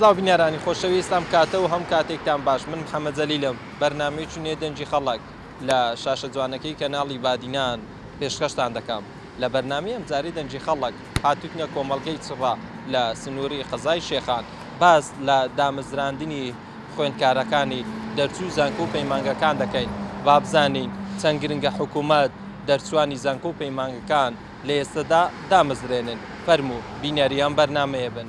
سلاو بینەرانی خۆشەویست ئەم کاتە و هەم کاتێکتان باش من محمد جلیلم بەرنامەی چونیە دەنگی خەڵک لە شاشە جوانەکەی کەناڵی بادینان پێشکەشتان دەکەم لە بەرنامەی ئەمجارەی دەنگی خەڵک هاتوتنە کۆمەڵگەی چڕە لە سنوری قەزای شێخان باس لە دامەزراندنی خوێندکارەکانی دەرچوی زانکۆ و پەیمانگەکان دەکەین وابزانین چەند گرنگە حکومەت دەرچوانی زانکۆ و پەیمانگەکان لە ئێستەدا دامەزرێنن فەرموو بینەری ئەم بەرنامەیە بن.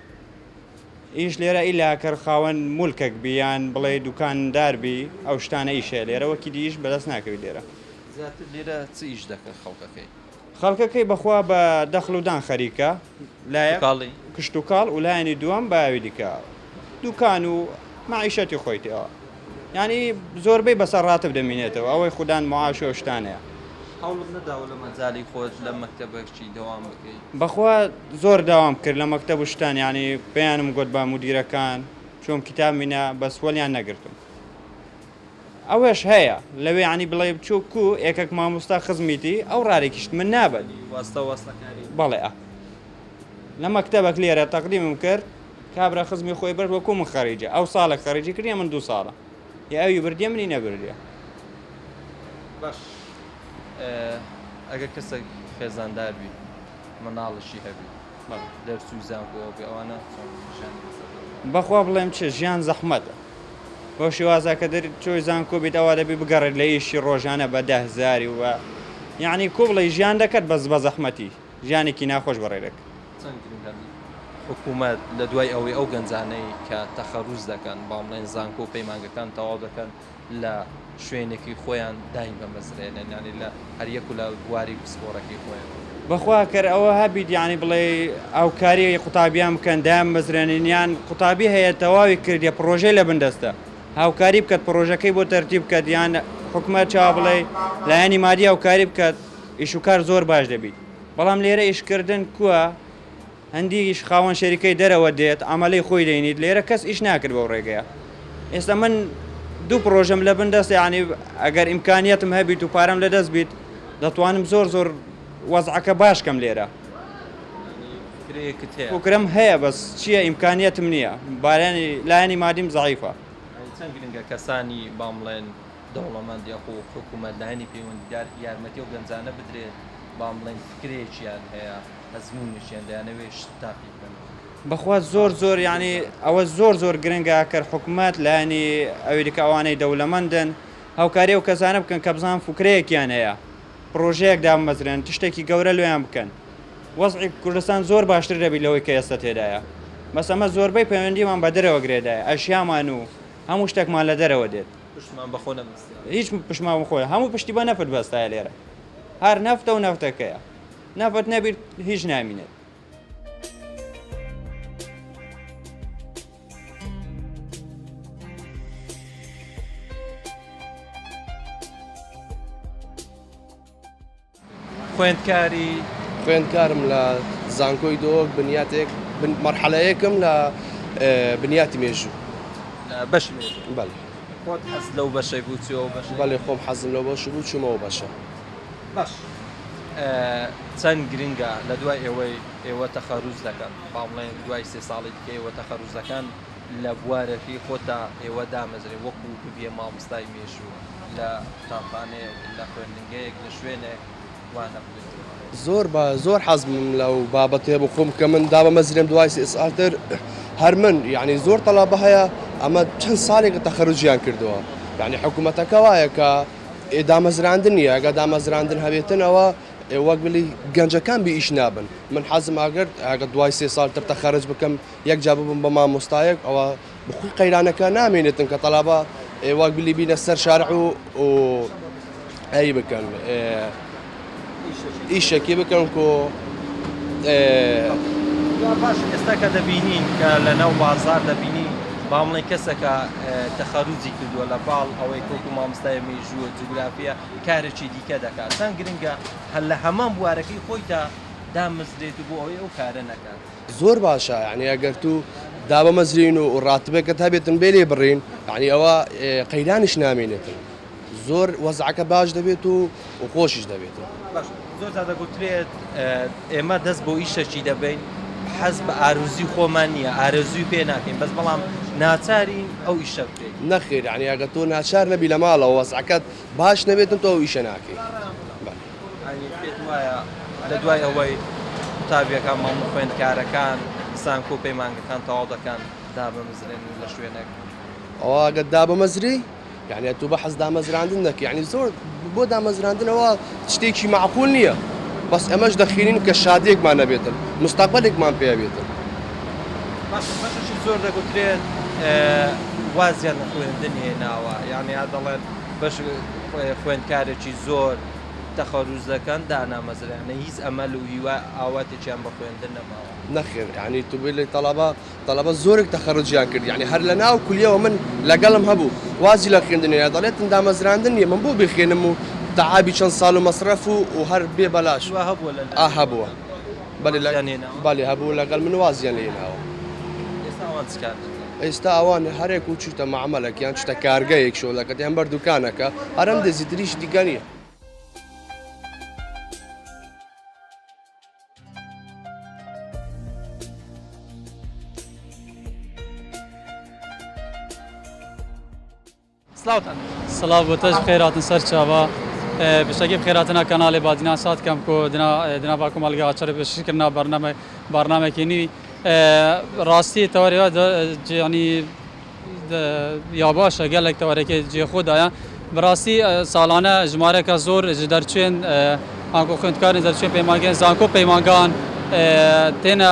ئیش لێرە ئیلا کەر خاوەن مولکەک بی یان بڵێ دوکاندار بی ئەو شتانە ئیش هەیە لێرە وەکی دی ئیش بەدەست ناکەوی لێرە. زیاتر لێرە چ ئیش دەکەن خەڵکەکەی؟ خەڵکەکەی بەخوا بە دەخل و دان خەریکە لایەک کشتوکاڵی. کشتوکاڵ و لایەنی دووەم بە ئاوی دیکە دوکان و مەعیشەتی خۆیتی ئەوە. یانی زۆربەی بەسەر ڕاتب دەمینێتەوە ئەوەی خودان معاش و ئەو شتانەیە. هەوڵت نەداوە لە مەجالی خۆت لە مەکتەب هەرچی دەوام بکەی؟ بەخوا زۆر داوام کرد لە مەکتەب و شتان یانی پێیانم گۆت بە مودیرەکان چۆم کیتابمی نا بەس وەلیان نەگرتم ئەوەش هەیە لەوێ یانی بڵێ بچۆ کو ئێکەک ماموستا خزمیتی ئەو ڕارێکیشت من نابەت واستا واستا کاری بەڵێ لە مەکتەبەک لێرە تەقدیمم کرد. کابرا خزمی خۆی برد وەکو من خەریجە ئەو ساڵێک خەریجی کردیە من دوو ساڵە یە ئەوی بردیە منی نەبردیە. باش ئەگەر کەسێک خێزاندار بی مناڵشی هەبی بەڵێ دەرچووی زانکۆ بی ئەوانە چۆن ژیانی بەسەر دەبەن؟ بەخوا بڵێم چ ژیان زەحمەتە بەو شێوازە کە دەر چۆی زانکۆ بیت ئەوا دەبی بگەڕێت لە ئیشی ڕۆژانە بە دە هزاری و بە یانی کو بڵێی ژیان دەکەت بەس بە زەحمەتی. ژیانێکی ناخۆش بە ڕێرەک. چەند گرنگە حکومەت لە دوای ئەوەی ئەو گەنجانەی کە تەخەروج دەکەن بەڵام بڵێن زانکۆ و پەیمانگەکان تەواو دەکەن لە شوێنێکی خۆیان دایمەمەزرێنن یانی لە هەریەک و لە بواری پسپۆرەکەی خۆیەوە. بەخوا کەر ئەوە هەبیت یانی بڵێ ئاوکاری قوتابیان بکەن دایان مەزرێنن یان قوتابی هەیە تەواوی کردیە پڕۆژەی لە بن دەستە هاوکاری بکەت پڕۆژەکەی بۆ تەرتیب بکەت یان حکومەت چاوا بڵێ لایەنی مادی هاوکاری بکەت ئیش و کار زۆر باش دەبیت بەڵام لێرە ئیش کردن کوە هەندیک خاوەن شەریکەی دەرەوە دێت عەمەلەی خۆی دەینیت لێرە کەس ئیش ناکرد بەو ڕێگەیە ئێستا من دوو پرۆژەم لە بن دەست یعنی ئەگەر ئیمکانیەتم هەبیت و پارەم لە دەست بیت دەتوانم زۆر زۆر وەزعەکە باش کەم لێرە فکرم هەیە بەس چیە ئیمکانیەتم نیە بارانی لایەنی مادیم زەعیفە. چەند گرنگە کەسانی با مڵێن. دەوڵەمەند یاخو حکومەت لایەنی پەیوەندیدار یارمەتی ئەو گەنجانە بدرێت بان بڵێن فکرەیەکیان هەیە ئەزمونێکیان دەیانەوێت شت تاقی بکەن. بەخوا زۆر زۆر یانی ئەوە زۆر زۆر گرنگە کەر حکومەت لایەنی ئەویدکە ئەوانەی دەولەمەندن هاوکاری ئەو کەسانە بکەن کە بزان فکرەیەکیان هەیە پرۆژەیەک دابمەزرێن تشتێکی گەورە لۆیان بکەن وەزعی کوردستان زۆر باشتر دەبی لەوەی کە ئێستا تێدایە بەس ئەمە زۆربەی پەیوەندیمان بە دەرەوە گرێدایە ئەشیامان و هەموو شتەکمان لە دەرەوە دێت. پشتمان بە خۆ نەبەستایە. هیچ پشتمان بە خۆ نە. هەموو پشتی بە نەفت بەستایە لێرە. هەر نەفتە و نەفتەکەیە. نەفت نەبیت هیچ نامینێت. خوێندکارم لە زانکۆی دهۆک بنیاتێک مەرحەلەیەکم لە بنیاتی مێژوو. بەشی مێژوو بەڵێ. خۆت حەزت لەو بەشەی بوو چووی ئەو بەشەی؟ بەڵێ خۆم حەزم لەو بەش بوو چوومە ئەو بەشە. باش چەند گرنگە لە دوای ئێوەی ئێوە تەخەروج دەکەن با بڵێن دوای سێ ساڵی دیکە ئێوە تەخەروج دەکەن، لە بوارەکی خۆتا ئێوە دامەزرێ وەکو ببیە ماموستای مێژوو لە قوتابخانەیەک لە خوێندنگەیەک لە شوێنێک وانە بدەیتەوە. زۆر با زۆر حەزمم لەو بابەتەیە بۆ خۆم کە من دامەمەزرێم دوای سێ ساڵ تر هەر من یەعنی زۆر تەڵەبە هەیە ئەمە چەند ساڵێکە تەخەروجیان کردووە یەعنی حکوومەتەکە وایە کە ئێ دامەزراندن نییە ئەگە دامەزراندن هەبێتن ئەوە ئێ وەک بلی گەنجەکان بی ئیش نابن من حەزم ئەگەر ئەگە دوای سێ ساڵ تر تەخەروج بکەم یەک جار ببم بە مامۆستایەک ئەوا بخوی قەیرانەکە نامێنێتن کە تەلابە ئێوە گلی بینە سەر شارع و و ئەی بکەن ئیشەکی بکەن کۆ باش ئێستا کە دەبینین کە لە ناو بازار دەبینی بامڵێ کەسەکە تەخەروجی کردووە لە باڵ ئەوەی کۆکو مامستای مێژووە جوگرافیە کارێکی دیکە دەکات چەند گرنگە هەر لە هەمان بوارەکەی خۆیدا دامەزرێت و بۆ ئەوەی ئەو کارە نەکات زۆر باشە یانی ئەگەر تو دابمەزرێین و ڕاتبێکت هەبێتن بێ لێ بڕین یعنی ئەوە قەیرانیش نامێنێتن زۆر وەزعەکە باش دەبێت و و خۆشیش دەبێتن زۆر تا دەگوترێت ئێمە دەست بۆ ئیشەکی دەبین حەز بە ئارزوی خۆمان نییە ئارزوی پێ ناکەین بەس بەڵام ناچارین ئەو ئیشە بکەین نەخێر یعنی ئەگە تۆ ناچار نەبی لە ماڵەوە وەزعەکەت باش نەبێتن تۆ ئیشە ناکەیت. ئەی پێت وایە لە دوای ئەوەی قوتابیەکان، مامە خوێندکارەکان، زانکۆ و پەیمانگەکان تەواو دەکەن دابمەزرێن لە شوێنێک؟ ئەوە ئەگەر دابمەزری یعنی ئەتوو بەحەز دامەزراندن دەکە یعنی زۆر بۆ دامەزراندنەوە شتێکی معقول نییە بەس ئەمەش دەخینین کە شادێکمان نەبێتن مستەقبلێکمان پێوێتن زۆر دەگوترێت وازیان لە خوێندن هێناوە یعنی هەر دەڵێن بەش خوێندکارێکی زۆر تەخەروز دەکەن دانامەزرێ یانە هیچ ئەمەل و هیوا ئاواتێکیان بە خوێندن نەماوە. نەخێر یانی تو بلی تەڵەبە تەڵەبە زۆرێک تەخەروجیان کرد یانی هەر لە ناو کولیەوە من لەگەڵم هەبوو وازی لە خوێندن هێنا دەڵێتن دامەزراندن نیە من بۆ بخوێنم و تەعابی چەند ساڵ و مەسرەف و و هەر بێ بەلاش هەبووە. بەڵێ هەبوو لەگەڵ من وازیان لێ هێناوە. ئێستا ئەوان چ کار دەکەن؟ ئێستا ئەوان هەرێک و چوویتە مەعمەلەک یان چوویتە کارگەیەک شۆ دەکەن یان بەر دوکانەکە هەر ئەم دزی تریش دیکە نییە. سڵاوتان سڵاو بۆ تەژ بخێر هاتن سەرچاوە پشتەکی بخێر هاتنە کەناڵێ بادینان سات کەم کۆ دنا دنا با کۆمەڵگە هاچەرە پێشکەش کردنا بەرنامە بارنامەکی نوی ڕاستی تەوەرەوە جیانی یا باشە گەلێک تەوەرەکە جێ خۆدایە بەڕاستی ساڵانە ژمارەکە زۆر دەرچێن ئاگۆ خوێندکارن دەرچێن پەیمانگەن زانکۆ پەیمانگان تێنە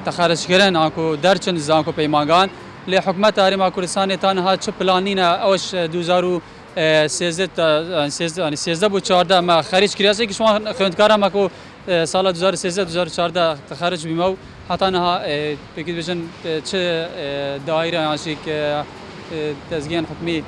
تەخەرشکردن ئاکۆ دەرچن زانکۆ پەیمانگان لێ حکومەت هەرێما کوردستانێ تا نها چ پلانینە ئەوەش دوو هەزار و سێزدە سێزدە بو چاردە مە خەریج کریاس ئێکیش وان خوێندکارا مە کۆ سالا دوو هەزار و سێزدە دوو هەزار و چاردە خەرج بیمە و هەتا نها پێکی بژن چ دایرە یان شی ک دەزگیان حکومی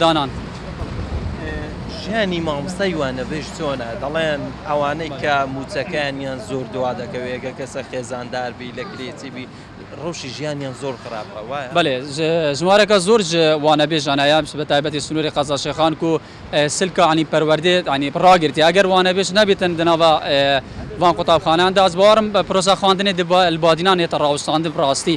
دانان. ژیانی مامۆستای وانەبێژ چۆنە؟ دەڵێن ئەوانەی کە مووچەکانیان زۆر دوا دەکەوێت، گەر کەسە خێزاندار بی، لە کرێچی بی، ڕەوشی ژیانیان زۆر خراپە، وایە؟ بەلێ، ژمارەکە زۆر ژ وانەبێژ ئەنایا، بە تایبەتی سنووری قەزاشێخان کو سلک عنی پەروەردەێ عنی ڕاگرتیە، گەر وانەبێژ نەبیتن دە ناڤە ڤان قوتابخانەێان دا، ئەز باوەڕم پرۆسە خواندنێ دە لە بادینان هێتە ڕاوستاندن، ڕاستی،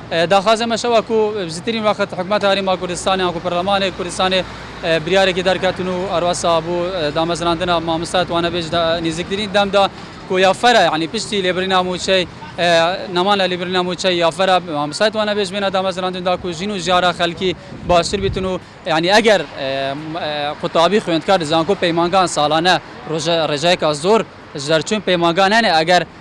داخوازێ مە شەوە کو بزترین وەخت حکومەت هەرێم مە کوردستانێ یان کو پەرلەمانێ کوردستانێ بریارێکی دەرکەتن و ئەروەسا بو دامەزراندنا ماموستا توانە بێژ دە نیزیکترین دەم دا کو یا فەرە یانی پشتی لێبرینا موچەی نەمان لە لیبرینا موچەی یا فەرە ماموستا توانە بێژ بێنە دامەزراندن دا کو ژین و ژیارە خەلکی باشتر بیتن و یانی ئەگەر قوتابی خوێندکار زانکۆ پەیمانگان سالانە روژە رێژەیکا زور ژەرچون پەیمانگا نەێ ئەگەر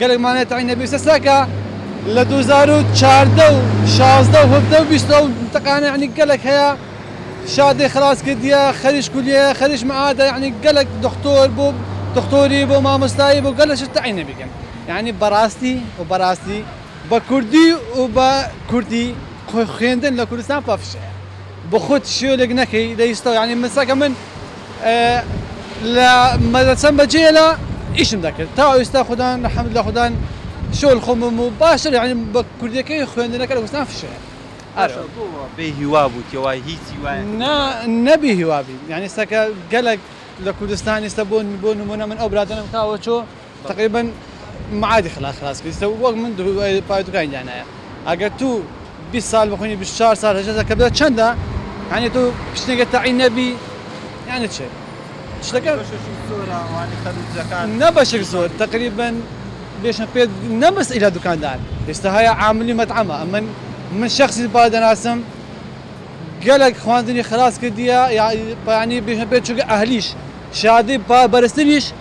گەلەک مانای تەعنە بێ سەسە کە لە دوو هەزار و چواردە و شازدە و هەڤدە و بیست ئەو تەقانە یەعنی گەلەک هەیە شادێ خەلاس کردیە خەریش کولیە خەریش مەعادە یەعنی گەلەک دختۆر بۆ دختۆری بۆ مامۆستایی بۆ گەلەک شت تەعنە بیکەن یەعنی بەڕاستی و بەڕاستی بە کوردی و بە کوردی خوێندن لە کوردستان پەفشەیە. بخوت شوێنک نەکەی دەیستەو یانی من سەکە من لە مەلە چەن بە جێ لە ئیشم دەکرد تا ئیستا خودان لە حەمد لە خودان شۆل خۆمم و باشە لە یانی بە کوردەکەی خوێندنەکە لە گوستان فشەیە ئەرۆ بێ هیوا بوو تێ وای هیچ هیوا نا نە بێ هیوا بی یانی سەکە گەلەک لە کوردستان ئیستا بۆن بۆ نمونە من ئەو برادەرەم کاوە چۆ. تەقریبەن معادی خلاص خلاص کردیتە و وەک من پایتوکانی دانایە ئەگەر تو بیست سال بخوینی بیست و چوار سال هەژدە سال کە بێت چەندە یانی تو شتێکە تەعین نەبی یانی چ شتەکە نە بەشێک زۆر تەقریبەن بێشم پێت نە بەس ئیلا دوکاندار ئێستا هەیە عاملی مەتعەمە ئەمن من شخصی با دەناسم گەلەک خواندنی خلاص کردیە یانی بێشم پێت چونکە ئەهلیش شادی با بەرزتریش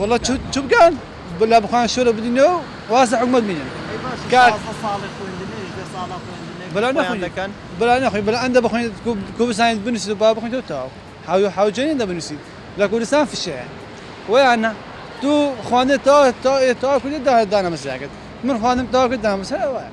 وەڵا چبکەن بلا بخۆن شۆرە بدینە و وازە حکومەت بینن بلا نەخۆن بلا نەخۆی بلا ئەندە بخۆین کوردستان بنووسیت با بخۆین تۆ تاو حاوی حاوجێنی دە بنووسیت لە کوردستان فشەیە ویانە تو خوانێ تا تا تا کوردی دا دانەمەسیاکرد من خوانم تا کرد دامەسە وایە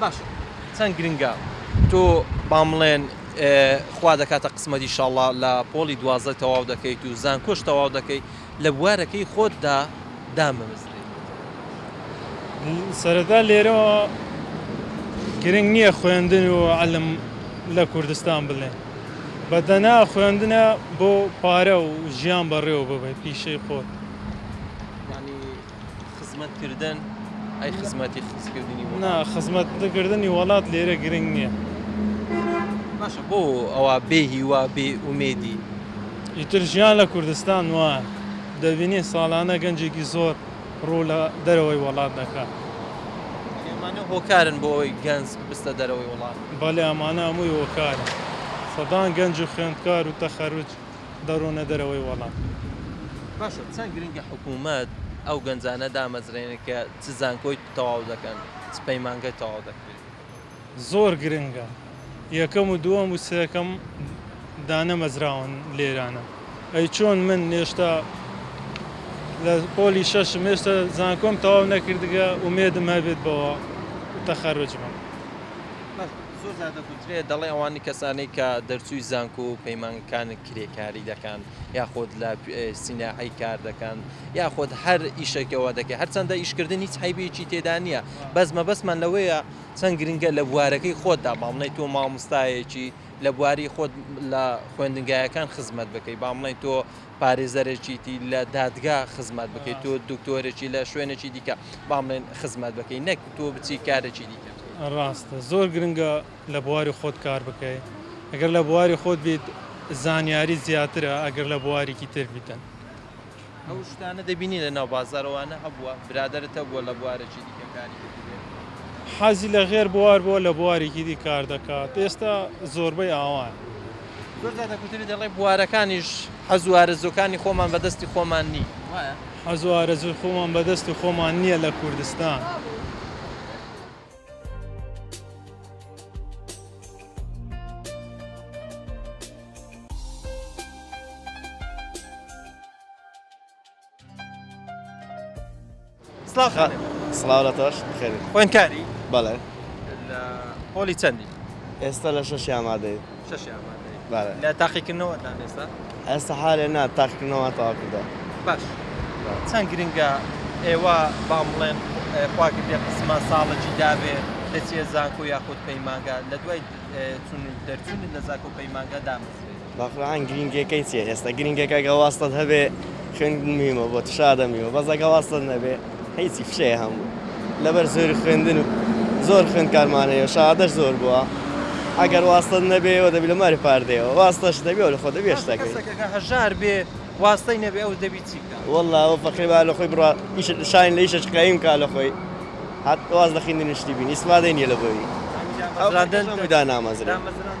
باشە چەند گرنگە تۆ بام بڵێن خوا دەکاتە قسمەت ئیشاڵڵا لە پۆڵی دوازدە تەواو دەکەیت و زانکۆش تەواو دەکەی لە بوارەکەی خۆتدا دامەزرێ. سەرەتا لێرەوە گرنگ نییە خوێندن و عیلم لە کوردستان بڵێن بە دەنا خوێندنە بۆ پارە و ژیان بەڕێوە ببەی پیشەی خۆت. خزمەت کردن ئەی خزمەتی خزکردنی وڵات نا خزمەت کردنی وڵات لێرە گرنگ نییە باشە بۆ ئەوە بێ هیوا بێ ئومێدی ئیتر ژیان لە کوردستان وایە دەبینی ساڵانە گەنجێکی زۆر ڕوو لە دەرەوەی وڵات دەکات ئەمانە هۆکارن بۆ ئەوەی گەنج بستە دەرەوەی وڵات بەڵێ ئەمانە هەمووی هۆکارە سەدان گەنج و خوێندکار و تەخەروج دەڕۆنە دەرەوەی وەڵات. باشە چەند گرنگە حکومەت ئەو گەنجانە دامەزرێنێت کە چ زانکۆی تەواو دەکەن چ پەیمانگای تەواو دەکرێت؟ زۆر گرنگە یەکەم و دووەم و سێکەم دانەمەزراون لێرانە ئەی چۆن من هێشتا لە پۆلی شەشم هێشتا زانکۆم تەواو نەکردگە ئومێدم هەبێت بەوە تەخەروج بم. زۆر جار دەگوترێت دەڵێن ئەوان کەسانەی کە دەرچووی زانکۆ و پەیمانگەکان کرێکاری دەکەن یاخود لە سیناعی کار دەکەن یاخود هەر ئیشێکەوە دەکەێت هەرچەندە ئیشکردن هیچ حیبێکی تێدا نییە بەس مەبەستمان لەوەیە چەند گرنگە لە بوارەکەی خۆتدا باڵنەی تۆ مامۆستایەکی لە بواری خۆت لە خوێندنگایەکان خزمەت بکەی بامڵێن تۆ پارێزەرێکیتی لە دادگا خزمەت بکەی تۆ دکتۆرێکی لە شوێنێکی دیکە با بڵێن خزمەت بکەی نەک تۆ بچی کارێکی دیکە بکەی. ڕاستە زۆر گرنگە لە بواری خۆت کار بکەی گەر لە بواری خۆت بیت زانیاری زیاترە ئەگەر لە بواریکی تر بیتن. ئەو شتانە دەبینی لە ناو بازار ئەوانە هەبووە برادەرت هەبووە لە بوارێکی دیکە کاری کردبێ؟ حەزی لە غێر بوار بووە لە بواریکی دی کار دەکات ئێستا زۆربەی ئاوایە. زۆر جار دەکوترێت دەڵێت بوارەکانیش حەزو ئارەزوەکانی خۆمان بەدەستی خۆمان نی وایە؟ حەزو ئارەزوی خۆمان بەدەستی خۆمان نیە لە کوردستان. خوێنکاری بەڵێ پۆلی چەندی ئێستا لە شەش ئامادەی لە تاقیکردنەوە ئێستا ئێستا حالێ نا تاقیکردنەوە تاکردە باش چەند گرنگە ئێوە بام بڵێن خواگردێ قسمە ساڵەکی داوێ دەچێت زانکۆ یاخود پەیمانگا لە دوای چون دەرچون لە زاکۆ پەیمانگا دامەزرێت باقوران گرینگیەکەی چیە ئێستا گرینگەکە ئەگە واستەت هەبێ خوێندن مهمە بۆ تشادە میوە بەس ئەگە واستەت نەبێ هیچی فشەیە هەموو لەبەر زۆری خوێندن و زۆر خوێندکارمان هەیە شادەش زۆر بووە ئەگەر واستەت نەبێەوە دەبی لە ماری پاردەیەوە واستەش دەبێ لە خۆ دەبێ شتەکەی کەسەکەکە هەژار بێ واستەی نەبێ ئەو دەبی چی بکات والله ئەوە فەقیبا لە خۆی بڕا ئیش شاین لە ئیشش قایم کا لە خۆی هات واز لە خوێندن شتی بینی ئیسفادەی نیە لە بۆی ئەو ڕادەن دا نامەزرا دامەزراندن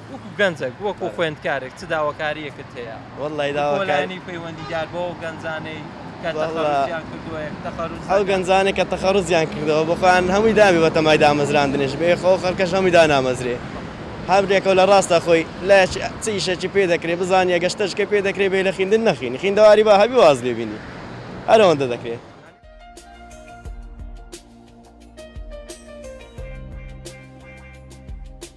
وەکو گەنجەک وەکو خوێندکارێک چ داواکاریەکت هەیە؟ وەڵڵای داواکاری بۆ لایەنی پەیوەندیدار بۆ ئەو گەنجانەی کە تەخەڕوجیان کردووە یەک تەخەڕوج ئەو گەنجانەی کە تەخەڕوجیان کردووە بۆ خۆیان هەمووی دابێ بەتەمای دامەزراندنیش بێ خۆ خەڵکەش هەمووی دانامەزرێ هەر بێکەوە لە ڕاستە خۆی لە چ ئیشێکی پێ دەکرێ بزانیە گە شتەشکە پێ دەکرێ بێ لە خیندن نەخینی خیندەواری با هەبی واز لێ بینی هەرەوەندە دەکرێ.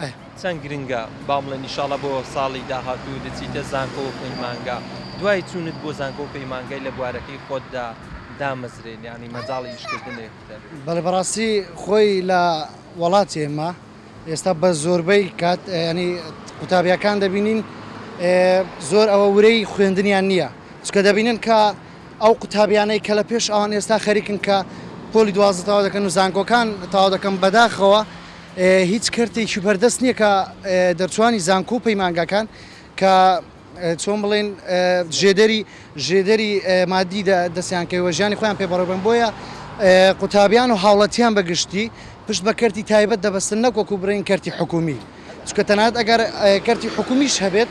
ئەه چەند گرنگە با بڵێن ئیشاڵا بۆ ساڵی داهاتوو دەچیتە زانکۆ و پەیمانگا دوای چوونت بۆ زانکۆ و پەیمانگای لە بوارەکەی خۆتدا دامەزرێن یانی مەجاڵی ئیشکردنێ هەبێت؟ بەڵێ بەڕاستی خۆی لە وەڵاتی ئێمە ئێستا بە زۆربەی کات ینی قوتابیەکان دەبینین زۆر ئەوە ورەی خوێندنیان نییە چکە دەبینن کە ئەو قوتابیانەی کە لە پێش ئەوان ئێستا خەریکن کە پۆلی دوازدە تەوا دەکەن و زانکۆکان تەوا دەکەم بەداخەوە هیچ کەرتێکی بەردەست نییە کە دەرچووانی زانکۆ و پەیمانگاکان کە چۆن بڵێن ژێدەری ژێدەری مادی دەستیان کەوێ ژیانی خۆیان پێ بەڕێبن بۆیە قوتابیان و هاوڵاتیان بەگشتی پشت بە کەرتی تایبەت دەبەستن نەک وەکو بڵێن کەرتی حکومی چونکە تەنانەت ئەگەر کەرتی حکومیش هەبێت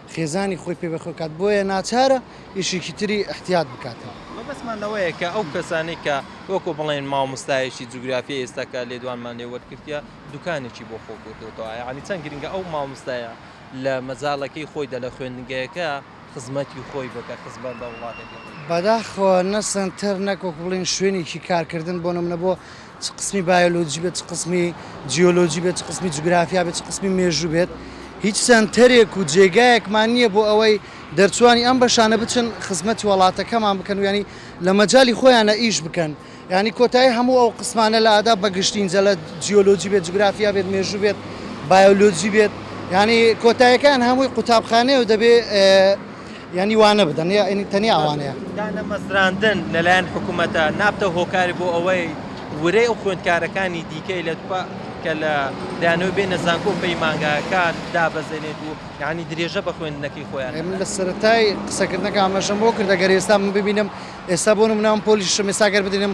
خێزانی خۆی پێ بەخێو کات بۆیە ناچارە ئیشێکی تری ئیحتیات بکاتەوە. مەبەستمان لەوەیە کە ئەو کەسانەی کە وەکو بڵێن مامۆستایەکی جوگرافیای ئێستا کە لێدوانمان لێ وەرگرتیە دوکانێکی بۆ خۆ کردۆتەوە یانی چەند گرنگە ئەو مامۆستایە لە مەجالەکەی خۆیدا لە خوێندنگەیەکە خزمەتی خۆی بکە خزمەت بە وڵاتەکەی خۆی بکە. بەداخەوە نە سەنتەر نەک وەکو بڵێن شوێنێکی کارکردن بۆ نمونە بۆ چ قسمی بایۆلۆجی بێت، چ قسمی جیۆلۆجی بێت، چ قسمی جوگرافیا بێت، چ قسمی مێژوو بێت، هیچ سەنتەرێک و جێگایەکمان نییە بۆ ئەوەی دەرچووانی ئەم بەشانە بچن خزمەتی وەڵاتەکەمان بکەن و یانی لە مەجالی خۆیانا ئیش بکەن، یانی کۆتایی هەموو ئەو قسمانە لە ئادا بە گشتی جە لە جیۆلۆجی بێت، جوگرافیا بێت، مێژوو بێت، بایۆلۆجی بێت، یانی کۆتاییەکەیان هەمووی قوتابخانەیە و دەبێ یانی وانە بدەن یانی تەنیا ئەوانەیە. دانەمەزراندن لەلایەن حکومەتە نابتە هۆکار بۆ ئەوەی ورەی ئەو خوێندکارەکانی دیکەی لە دپا کە لە دانەوەی بێنە زانکۆ و پەیمانگاکان دابەزێنێت و یانی درێژە بە خوێندنەکەی خۆیان ئێ من نەدات. لە سەرەتای قسەکردنەکەم ئاماژەم بۆ کرد ئەگەر ئێستا من ببینم ئێستا بۆ نمونە من پۆلیشم ئێستا گەر بدینم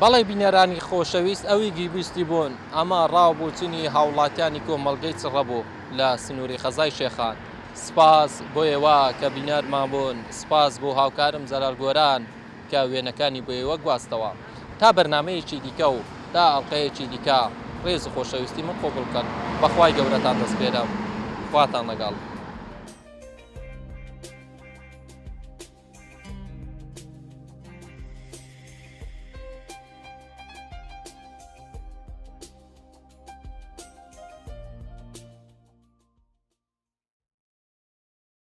بەڵێ بینەرانی خۆشەویست ئەوی گیبیستی بوون ئەمە ڕاو بۆچنی هاوڵاتیانی کۆمەڵگەی چڕە بوو لە سنووری خەزای شێخان سپاس بۆ ئێوە کە بینەرمان بوون سپاس بۆ هاوکارم جەلال گۆران. کە وێنەکانی بۆ ئێوە گواستەوە. تا بەرنامەیەکی دیکە و تا ئەڵقەیەکی دیکە ڕێز و خۆشەویستی من قبوڵ بکەن. بە خوای گەورەتان دەسپێرم. خواتان لەگەڵ.